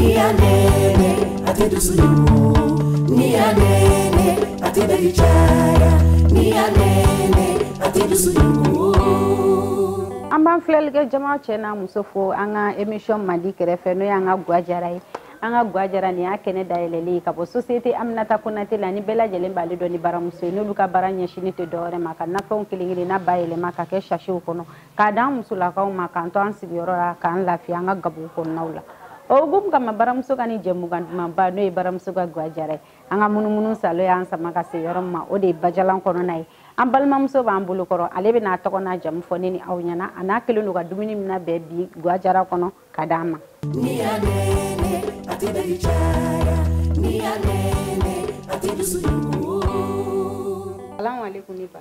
N'i y'a nɛɛnɛ a ti dusulumu N'i y'a nɛɛnɛ a ti dali caya N'i y'a nɛɛnɛ a ti dusulumu An b'an filɛlikɛ jama cɛ n'a muso fo an ka émission mandi kɛrɛfɛ n'o y'an ka gwa jara ye an ka gwa jara nin y'a kɛnɛ dayɛlɛlen ye ka bɔ société aminata konate la ni bɛɛ lajɛlen b'ale dɔn ni baramuso ye n'olu ka baara ɲɛsini tɛ dɔwɛrɛ ma ka nafɛnw kelen kelenna bayɛlɛma ka kɛ sasiw kɔnɔ k'a d'an musolakaw ma k'an to an sigiyɔrɔ la k'an lafiya an ka gabugu kɔnɔnaw la o hukumu kama baramuso ka nin jɛmukan dumanba n'o ye baramuso ka gwa jara ye an ka munumunu salo y'an sama ka se yɔrɔ min ma o de ye bajalan kɔnɔna ye an balimamuso b'an bolo kɔrɔ ale bɛ n'a tɔgɔ n'a jamu fɔ ne ni aw ɲɛna an'a kɛlen don ka dumuni min nabɛn bi gwa jara kɔnɔ ka d'an ma Ni y'a nɛɛnɛ, a tɛ dali caya. Ni y'a nɛɛnɛ, a tɛ dusu dugu. Salamu aleykum ne ba.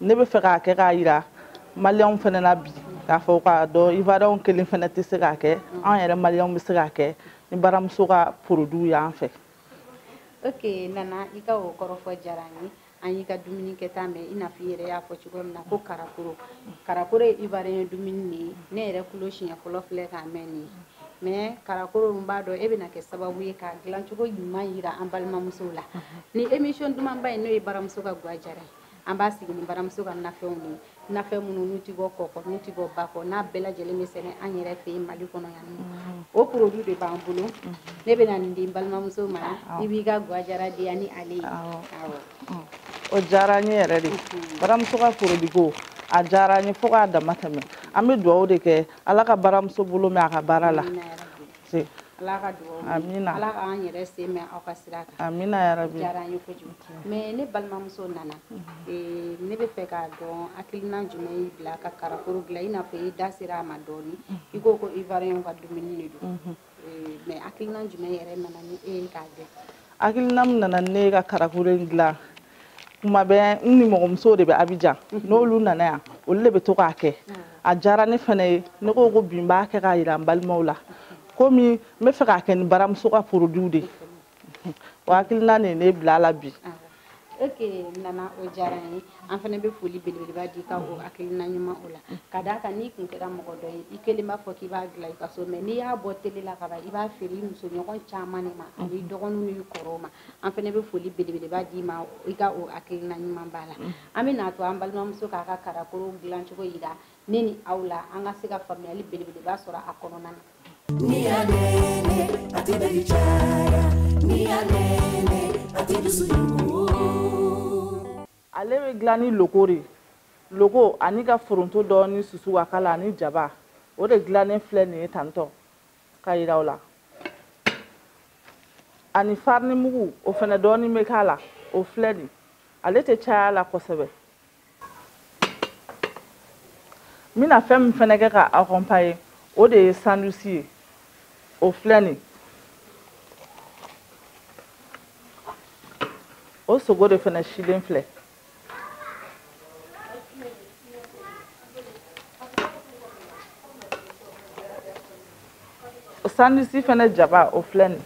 ne bɛ fɛ k'a kɛ k'a jira maliyɛnw fana na bi k'a fɔ k'a dɔn ivariyɛnw kelen fana tɛ se k'a kɛ an yɛrɛ maliyɛnw bɛ se k'a kɛ ni baramuso ka poroduw y'an fɛ ok nana i ka o kɔrɔfɔ diyara an ye an y'i ka dumuni kɛta mɛn i n'a fɔ i yɛrɛ y'a fɔ cogo min na ko karakoro karakoro ye ivariyɛn dumuni de ye ne yɛrɛ tulo siɲɛ fɔlɔ filɛ k'a mɛn nin ye mɛ karakoro n b'a dɔn e bɛna kɛ sababu ye k'a dilancogo ɲuman yira an balimamusow la nin emisiyɔn dumanba in n'o ye baramuso ka gwa jara ye an b'a sigi ni baramuso ka nafɛnw de ye nafɛn minnu n'u ti bɔ kɔ kɔ n'u ti bɔ ba kɔ n'a bɛɛ lajɛlen bɛ sɛnɛ an yɛrɛ fɛ yen mali kɔnɔ yan mm-hmm. o produit de b'an bolo mm-hmm. ne bɛna nin di n balimamuso ma i b'i ka gwajara diya ni ale ye mm. o diyara n ye yɛrɛ de mm-hmm. baramuso ka produit ko a diyara n ye fo k'a dama tɛmɛ an bɛ dugawu de kɛ ala ka baramuso bolo mɛɛn a ka baara la se ala ka dugawu amina ala k'an yɛrɛ sen mɛɛn aw ka sira kan amina yarabi diyara an ye kojugu mɛ ne balimamuso nana eh, ne bɛ fɛ k'a dɔn hakilina jumɛn y'i bila ka karakoro dilan i n'a fɔ i da sera a ma dɔɔni i ko ko ivariyɛnw ka dumuni de don mhm. eh, mɛ hakilina jumɛn yɛrɛ nana ni e ye k'a dɔn hakilina min nana ne ka karakoro in dilan kuma bɛ n nimɔgɔmusow de bɛ abijan mhm. n'olu nana yan olu de bɛ to k'a kɛ mhm. a diyara ne fana ye ne ko ko bi n b'a kɛ k'a jira n balimaw la komi n bɛ fɛ k'a kɛ ni baramuso ka porodiw de mhm. o hakilina de ye ne bila a la bi ah. ok nana o diyara n ye an fana bɛ foli belebeleba d'i ka o hakilina ɲuman o la ka d'a kan n'i kun kɛra mɔgɔ dɔ ye i kelen b'a fɔ k'i b'a dilan i ka so mɛ n'i y'a bɔ tele la ka ban i b'a feere i musoɲɔgɔn caman de ma an'i dɔgɔninw n'i kɔrɔw ma an fana bɛ foli belebeleba d'i ma i ka o hakilina ɲumanba la mm. an bɛ n'a to an balimamuso k'a ka karakoro dilancogo yira ne ni aw la an ka se ka faamuyali belebeleba sɔrɔ a kɔnɔna na n'i y'a nɛɛnɛ a tɛ dali caya n'i y'a nɛɛnɛ a tɛ dusu yugu ale bɛ dilan ni loko de loko an'i ka foronto dɔɔni susu k'a k'a la ani jaba o de dilannen filɛ nin ye tantɔ k'a yiran o la ani farini mugu o fana dɔɔnin bɛ k'a la o filɛ nin ale tɛ caya a la kosɛbɛ n bɛna fɛn min fana kɛ k'a accompagner o de ye sandusi ye o filɛ nin o sogo de fana silen filɛ sandusi fana jaba o filɛ nin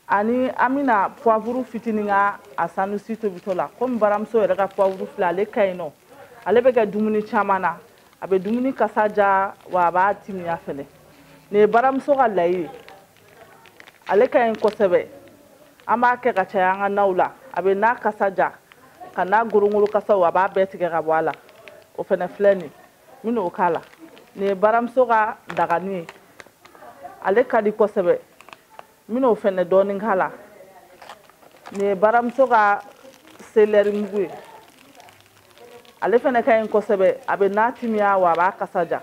ani an bɛna puwavuru fitinin k'a sandusi tobitɔ la komi baramuso yɛrɛ ka puwavuru filɛ ale ka ɲi nɔ ale bɛ kɛ dumuni caman na a bɛ dumuni kasa diya wa a b'a timiya fɛnɛ nin ye baramuso ka layi ye ale ka ɲi kosɛbɛ an b'a kɛ ka caya an ka naw la a bɛ na kasa diya ka na gorongoro kasaw a b'a bɛɛ tigɛ ka bɔ a la o fɛnɛ filɛ nin n bɛna o k'a la nin ye baramuso ka dagani ye ale ka di kosɛbɛ n bɛna o fɛnɛ dɔɔnin k'a la nin ye baramuso ka selɛri mugu ye ale fɛnɛ ka ɲi kosɛbɛ a bɛ na timiya wa a b'a kasa diya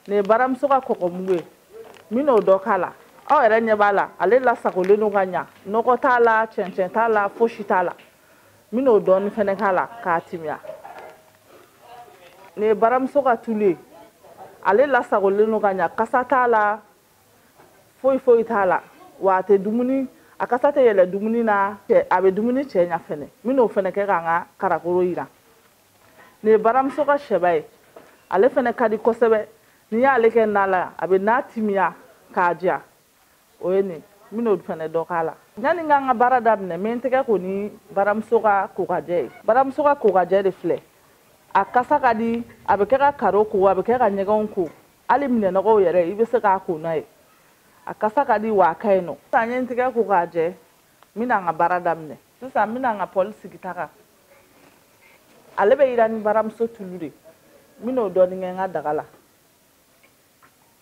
nin ye baramuso ka kɔgɔmugu ye n bɛna o dɔ k'a la aw yɛrɛ ɲɛ b'a la ale lasagolen don ka ɲa nɔgɔ t'a la cɛncɛn t'a la fosi t'a la n bɛn'o dɔɔni fana k'a la k'a timiya nin ye baramuso ka tulu ye ale lasagolen don ka ɲa kasa t'a la foyi foyi t'a la wa a tɛ dumuni a kasa tɛ yɛlɛ dumuni na a bɛ dumuni cɛɲa fɛnɛ n bɛn'o fɛnɛ kɛ k'an ka karakoro jiran nin ye baramuso ka sɛba ye ale fɛnɛ ka di kosɛbɛ n'i y'ale kɛ na la a bɛ na timiya k'a diya o ye nin n bɛn'o fana dɔ k'a la yanni n ka n ka baara daminɛ n bɛ n tɛgɛ ko ni baramuso ka kokajɛ ye baramuso ka kokajɛ de filɛ a kasa ka di a bɛ kɛ ka karo ko a bɛ kɛ ka ɲɛgɛnw ko hali minɛnɔgɔw yɛrɛ i bɛ se k'a ko n'a ye a kasa ka di wa a ka ɲi nɔ sisan n ye n tɛgɛ ko k'a jɛ n bɛna n ka baara daminɛ sisan n bɛna n ka pɔli sigi ta kan ale bɛ jiran ni baramuso tulu de n bɛn'o dɔɔnin kɛ n ka daga la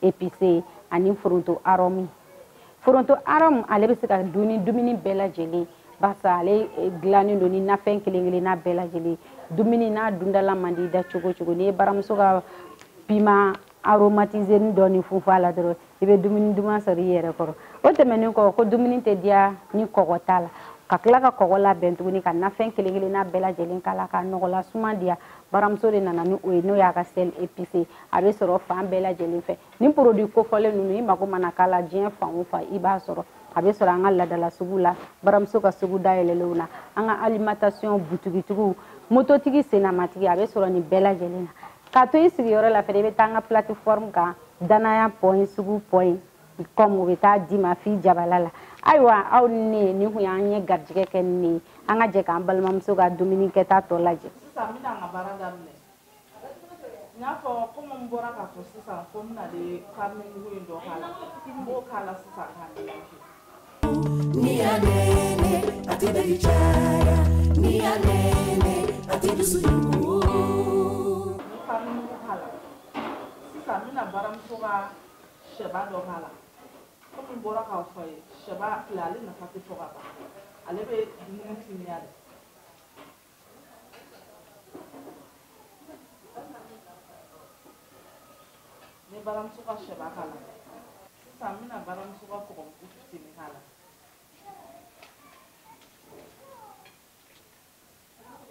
epise ani foronto arɔmu foronto arɔmu ale bɛ se ka dun ni dumuni bɛɛ lajɛlen barisa ale eh, dilannen don ni nafɛn kelen kelenna bɛɛ lajɛlen dumuni n'a dundala man di da cogo o cogo n'i ye baramuso ka pima aromatiseni dɔɔnin funfun a la dɔrɔn i bɛ dumuni duman sɔrɔ i yɛrɛ kɔrɔ o tɛmɛnen kɔ ko dumuni tɛ diya ni kɔgɔ t'a la ka tila ka kɔgɔ labɛn tuguni ka nafɛn kelen kelenna bɛɛ lajɛlen k'a la ka nɔgɔla suma diya baramuso de nana ni o ye n'o y'a ka sel epise a bɛ sɔrɔ fan bɛɛ lajɛlen fɛ ni porodi kofɔlen ninnu i mago mana k'a la diɲɛ fan o fan i b'a sɔrɔ a bɛ sɔrɔ an ka laadala sugu la baramuso ka sugu dayɛlɛlenw na an ka alimentation butigitigiw mototigi sennamatigi a bɛ sɔrɔ nin bɛɛ lajɛlen na k'a to i sigiyɔrɔ la fɛnɛ i bɛ taa an ka plateforme kan danaya pɔn sugu pɔn kɔmi u bɛ taa d'i ma f'i jabala la ayiwa aw ni ne nin kun y'an ye garijɛgɛ kɛ ni ne ye an ka jɛ k'an balimamuso ka dumuni kɛta tɔ lajɛ sisan n bɛna n ka baara daminɛ n'a fɔ komi n bɔra k'a fɔ sisan ko n bɛna de farine mugu in dɔ k'a la n b'o k'a la sisan k'a mélange n'i y'a nɛnɛ a tɛ dali caya n'i y'a nɛnɛ a tɛ dusu jugu n ye farine mugu k'a la sisan n bɛna baramuso ka sɛba dɔ k'a la komi n bɔra k'a fɔ ye sɛba filɛ ale nafa tɛ fɔ ka ban ale bɛ dumuni timiya de n ye baramuso ka sɛba k'a la sisan n bɛna baramuso ka kɔgɔmugu fitini k'a la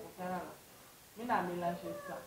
o kɛra la n bɛna melange sisan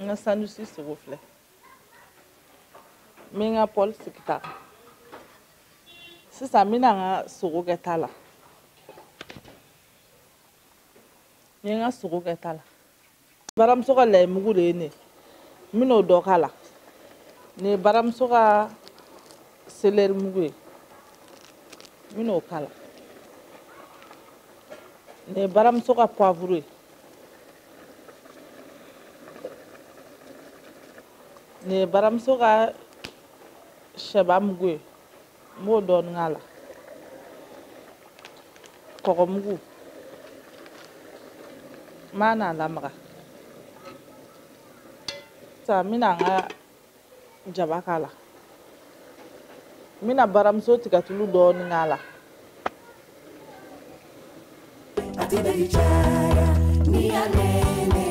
n ka sandusi sogo filɛ n bɛ n ka pɔli sigi ta kan sisan n bɛna n ka sogo kɛ ta la n ye n ka sogo kɛ ta la baramuso ka layimugu de ye nin n bɛna o dɔ k'a la nin ye baramuso ka selɛri mugu ye n bɛna o k'a la nin ye baramuso ka puwavuru ye nin ye baramuso ka sɛba mugu ye n b'o dɔɔnin k'a la kɔgɔmugu n bɛn'a lamaga sisan n bɛna n ka jaba k'a la n bɛna baramuso tigatulu dɔɔni k'a la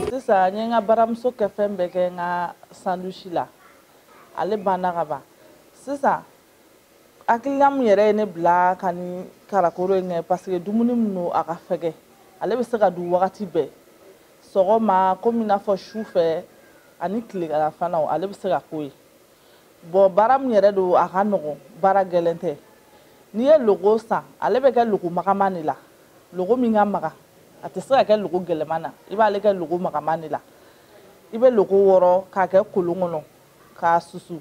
sisan n ye n ka baramuso kɛfɛn bɛɛ kɛ n ka sandusi la ale banna ka ban sisan hakilina min yɛrɛ ye ne bila ka nin karakoro in kɛ paseke dumuni min don a ka fɛgɛ ale bɛ se ka dun wagati bɛɛ sɔgɔma komi n'a fɔ su fɛ ani tileganfana ale bɛ se ka k'o ye bɔn baara min yɛrɛ don a ka nɔgɔn baara gɛlɛn tɛ n'i ye logo san ale bɛ kɛ logo magaman de la logo min ka maga a tɛ se ka kɛ logo gɛlɛman na i b'ale kɛ logo magaman de la i bɛ logo wɔrɔ k'a kɛ kolon kɔnɔ k'a susu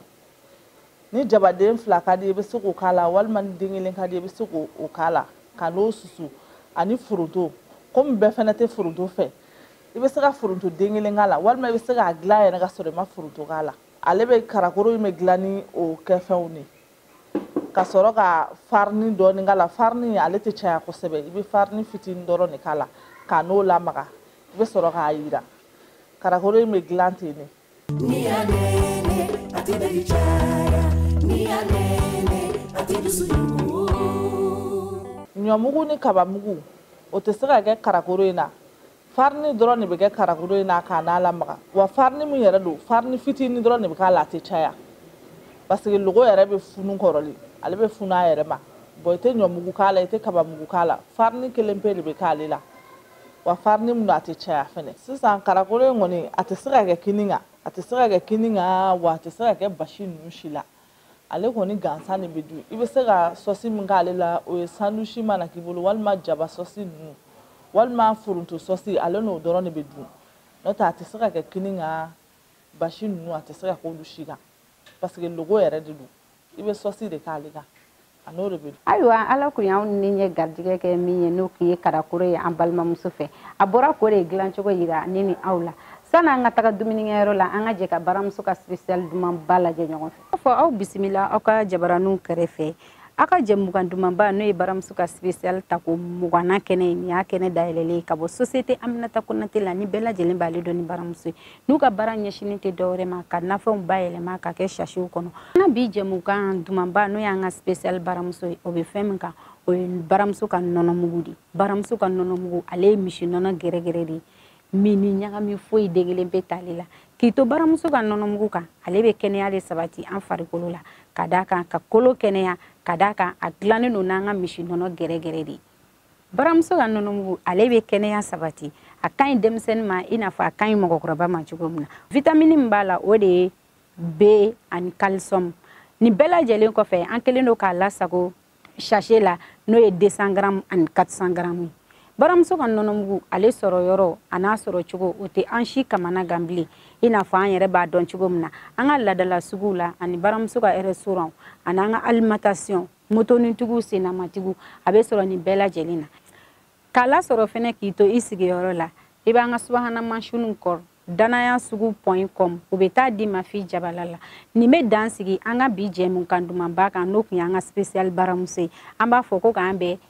ni jabaden fila ka di i bɛ se k'o k'a la walima ni den kelen ka di i bɛ se k'o k'a la ka n'o susu ani foronto komi bɛɛ fana tɛ foronto fɛ i bɛ se ka foronto den kelen k'a la walima i bɛ se k'a dilan yɛrɛ ka sɔrɔ i ma foronto k'a la ale bɛ karakoro in bɛ dilan ni o kɛfɛnw de ka sɔrɔ ka farini dɔɔni k'a la farini ale tɛ caya kosɛbɛ i bɛ farini fitinin dɔrɔn de k'a la ka n'o lamaga i bɛ sɔrɔ k'a jiran karakoro in bɛ dilan ten de n'iyanene ati ndayicara n'iyanene ati dusuyugu ɲɔmugu ni kabamugu o tɛ se ka kɛ karakoro in na farini dɔrɔn de bɛ kɛ karakoro in na ka n'a lamaga wa farini min yɛrɛ don farini fitinin dɔrɔn de bɛ k'a la a tɛ caya parce que logo yɛrɛ bɛ funu kɔrɔli ale bɛ funu a yɛrɛ ma bon i tɛ ɲɔmugu k'a la i tɛ kabamugu k'a la farini kelen pe de bɛ k'ale la wa farini min don a tɛ caya fɛnɛ sisan karakoro in kɔni a tɛ se ka kɛ kini kan a tɛ se ka kɛ kini kan wa a tɛ se ka kɛ basi ninnu si la ale kɔni gansan de bɛ dun i bɛ se ka sɔsi min k'ale la o ye sandusi mana k'i bolo walima jaba sɔsi ninnu walima foronto sɔsi ale n'o dɔrɔn de bɛ dun n'o tɛ a tɛ se ka kɛ kini kan basi ninnu a tɛ se ka k'olu si kan paseke logo yɛrɛ de don i bɛ sɔsi de k'ale kan a n'o de bɛ dun. ayiwa ala kun y'anw ni ɲɛ garijɛgɛ kɛ min ye n'o kun ye karakoro ye an balimamuso fɛ a bɔra k'o de dilancogo yira ne ni aw la sani an ka taga dumunikɛyɔrɔ la an ka jɛ ka baramuso ka sipesiyali dumanba lajɛ ɲɔgɔn fɛ. a fɔ aw bisimila aw ka jabaraninw kɛrɛfɛ aw ka jɛmukan dumanba n'o ye baramuso ka sipesiyali tako mugannan kɛnɛ ye nin y'a kɛnɛ dayɛlɛlen ye ka bɔ sosiyete aminata konate la ni bɛɛ lajɛlen b'ale dɔn ni baramuso ye n'u ka baara ɲɛsinin tɛ dɔwɛrɛ ma ka nafɛnw bayɛlɛma ka kɛ sasew kɔnɔ an ka bi jɛmukan dumanba n'o y'an ka spécial baramuso ye o bɛ fɛn min kan o ye baramuso ka nɔnɔmugu de baramuso ka nɔnɔmugu ale ye misi nɔnɔ gɛrɛgɛrɛ de ye min ni ɲagami foyi den kelen pe t'ale la k'i to baramuso ka nɔnɔmugu kan ale bɛ kɛnɛya de sabati an farikolo la ka d'a kan ka kolo kɛnɛya ka d'a kan a dilannen don n'an ka misi nɔnɔ gɛrɛgɛrɛ de ye baramuso ka nɔnɔmugu ale bɛ kɛnɛya sabati a ka ɲi denmisɛnnin ma i n'a fɔ a ka ɲi mɔgɔkɔrɔba ma cogo min na vitamini min b'a la o de ye b ani kalisiyɔmu nin bɛɛ lajɛlen kɔfɛ an kɛlen don k'a lasago sase la n'o ye 200 garamu ani 400 garamu ye baramuso ka nɔnɔmugu ale sɔrɔ yɔrɔ an'a sɔrɔ cogo o tɛ an si kamanagan bilen i n'a fɔ an yɛrɛ b'a dɔn cogo min na an ka ladala suguw la ani baramuso ka restaurant ani an ka alimentation motonitigiw sennamatigiw a bɛ sɔrɔ nin bɛɛ lajɛlen na k'a lasɔrɔ fɛnɛ k'i to i sigiyɔrɔ la i b'an ka subahana mansinw kɔrɔ danaya sugu pɔn kɔm u bɛ t'a d'i ma f'i jabala la nin bɛ dan sigi an ka bi jɛmukan dumanba kan n'o tun y'an ka spesiyali baramuso ye an b'a fɔ ko k'an bɛn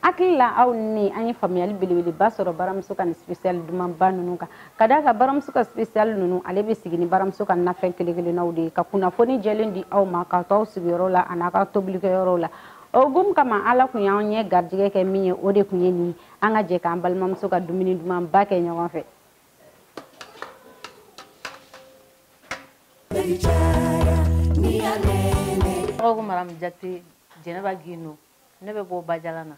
hakili la aw ni an ye faamuyali belebeleba sɔrɔ baramuso ka nin sipesiyali dumanba ninnu kan ka da a kan baramuso ka sipesiyali ninnu ale bɛ sigi ni baramuso ka nafɛn kelen-kelennaw de ye ka kunnafoni jɛlen di aw ma k'a to aw sigiyɔrɔ la an'a ka tobilikɛyɔrɔw la o hukumu kama ala tun y'an ɲɛ garijɛgɛ kɛ min ye o de tun ye nin an ka jɛ k'an balimamuso ka dumuni dumanba kɛ ɲɔgɔn fɛ tɔgɔ ko maramu jate jɛnɛba gino ne bɛ bɔ bajalan na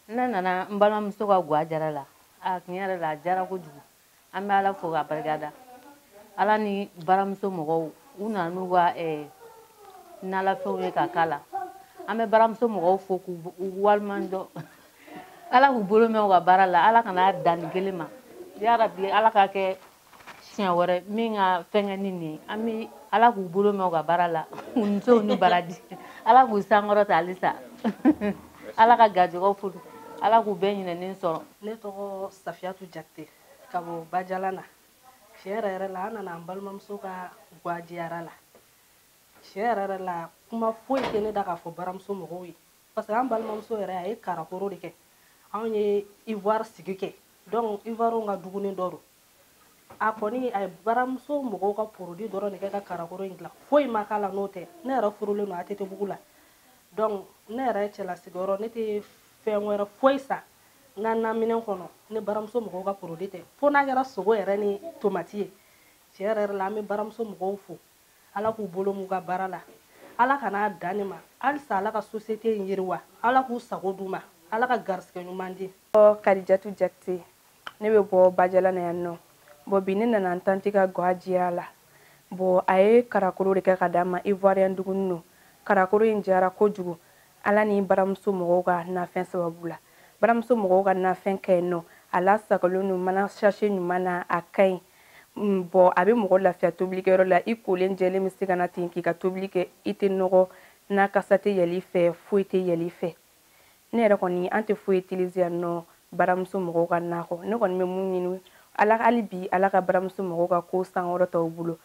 ne nana n balimamuso ka gwa diyara la a tiɲɛ yɛrɛ la a diyara kojugu an bɛ ala fo ka barika da ala ni baramuso mɔgɔw u nana n'u ka eh, nalafɛnw ye ka k'a la an bɛ baramuso mɔgɔw fo k'u waleɲuman dɔn ala k'u bolo mɛn u ka baara la ala kana dan nin kelen ma yarabi ala ka kɛ siɲɛ wɛrɛ min ka fɛnkɛ ni nin an bɛ ala k'u bolo mɛn u ka baara la u ni ce u ni baraji ala k'u sankɔrɔta halisa ala ka garijɛgɛw fo ala k'u bɛɛ ɲininen sɔrɔ ne tɔgɔ safiyatu jakite ka bɔ bajala na tiɲɛ yɛrɛ yɛrɛ la an nana an balimamuso ka gwa diyara la tiɲɛ yɛrɛ yɛrɛ la kuma foyi tɛ ne da k'a fɔ baramuso mɔgɔw ye parce que an balimamuso yɛrɛ a ye karakoro de kɛ anw ye ivoire sigi kɛ donc ivoirew ka dumuni dɔ don a kɔni a ye baramuso mɔgɔw ka porodi dɔrɔn de kɛ ka karakoro in dilan foyi ma k'a la n'o tɛ ne yɛrɛ furulen don atetebugu la donc ne yɛrɛ cɛla sigiyɔrɔ ne tɛ fɛn wɛrɛ foyi san n ka naminɛn kɔnɔ ni baramuso mɔgɔw ka porodi tɛ fo n'a kɛra sogo yɛrɛ ni tomati ye tiɲɛ yɛrɛ la an bɛ baramuso mɔgɔw fo Ala k'u bolo mɛn u ka baara la Ala kana dan nin ma halisa Ala ka société in yiriwa Ala k'u sago d'u ma Ala ka garisigɛ ɲuman di. Kadijatu Jakite ne bɛ bɔ Bajala na yan nɔ bon bi ne nana n tanti ka gwa diya la bon a ye karakoro de kɛ ka d'an ma ivoirien dumuni don karakoro in diyara kojugu Ala ni baramuso mɔgɔw ka nafɛn sababu la baramuso mɔgɔw ka nafɛn ka ɲi nɔ a lasagolen don mana sachet ɲuman na a ka ɲi bɔn a bɛ mɔgɔ lafiya tobilikɛyɔrɔ la i kolen jɛlen bɛ se ka na ten k'i ka tobili kɛ i tɛ nɔgɔ na kasa tɛ yɛlɛn i fɛ foyi tɛ yɛlɛn i fɛ ne yɛrɛ kɔni an tɛ foyi utiliser yan nɔ baramuso mɔgɔw ka na kɔ ne kɔni bɛ min ɲini ala hali bi ala ka baramuso mɔgɔw ka ko sankɔrɔta u bolo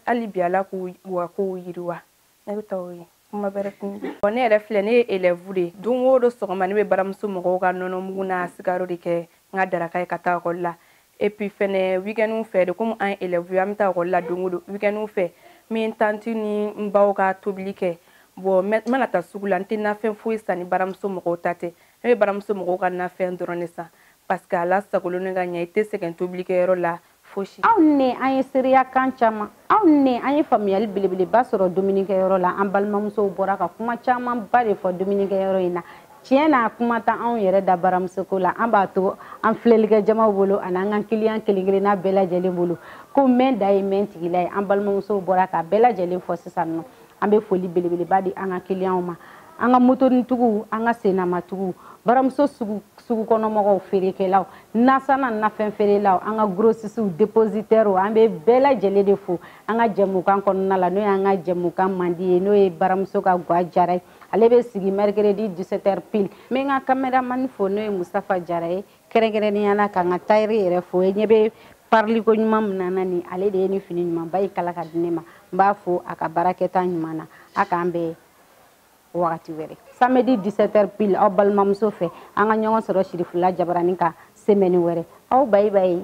hali bi ala k'u ka kow yiriwa ne bɛ taa o ye kuma bɛrɛ kun bɔn ne yɛrɛ filɛ ne ye elɛvu de don o don sɔgɔma ne bɛ baramuso mɔgɔw ka nɔnɔmugu n'a sukaro de kɛ n ka daraka ye ka taa ekɔli la epi fɛnɛ wikɛniw fɛ de komi an ye elɛvu ye an bɛ taa ekɔli la don o don wikɛniw fɛ n bɛ n tanti ni n baw ka tobili kɛ bɔn n mana taa sugu la n tɛ nafɛn foyi san ni baramuso mɔgɔw ta tɛ ne bɛ baramuso mɔgɔw ka nafɛn dɔrɔn de san parce que a lasagolen don ka ɲɛ i tɛ sɛgɛn tobilikɛyɔrɔ la fosi aw ni an ye seereya kan caman aw ni an ye faamuyali belebeleba sɔrɔ dumunikɛyɔrɔ la an balimamusow bɔra ka kuma camanba de fɔ dumunikɛyɔrɔ in na tiɲɛ na kuma t'an yɛrɛ da baramusoko la an b'a to an filɛlikɛ jamaw bolo ani an ka kiliyan kelen kelenna bɛɛ lajɛlen bolo ko mɛn da ye mɛn tigila ye an balimamusow bɔra ka bɛɛ lajɛlen fɔ sisan nɔ an bɛ foli belebeleba di an ka kiliyanw ma an ka motonitigiw an ka sennamatigiw baramuso sugu kɔnɔmɔgɔw feerekɛlaw nasanna nafɛn feerelaw an ka grosisiw depositɛrw an bɛ bɛɛ lajɛlen de fo an ka jɛmukan kɔnɔna la n'o y'an ka jɛmukan mandi ye n'o ye baramuso ka gwa diyara ye ale bɛ sigi mercredi 17 heures pile n b'an ka kameramani fo n'o ye musafa jara ye kɛrɛnkɛrɛnnenya la k'an ka tayɛri yɛrɛ fo e ɲɛ bɛ pariliko ɲuman min na n na nin ale de ye nin fini ɲumanba in kala k'a di ne ma n b'a fo a ka baarakɛta ɲuman na a k'an bɛn wagati wɛrɛ samedi 17 heures pile aw balimamuso fɛ an ka ɲɔgɔn sɔrɔ sirifula jabarani kan semɛni wɛrɛ aw bayi bayi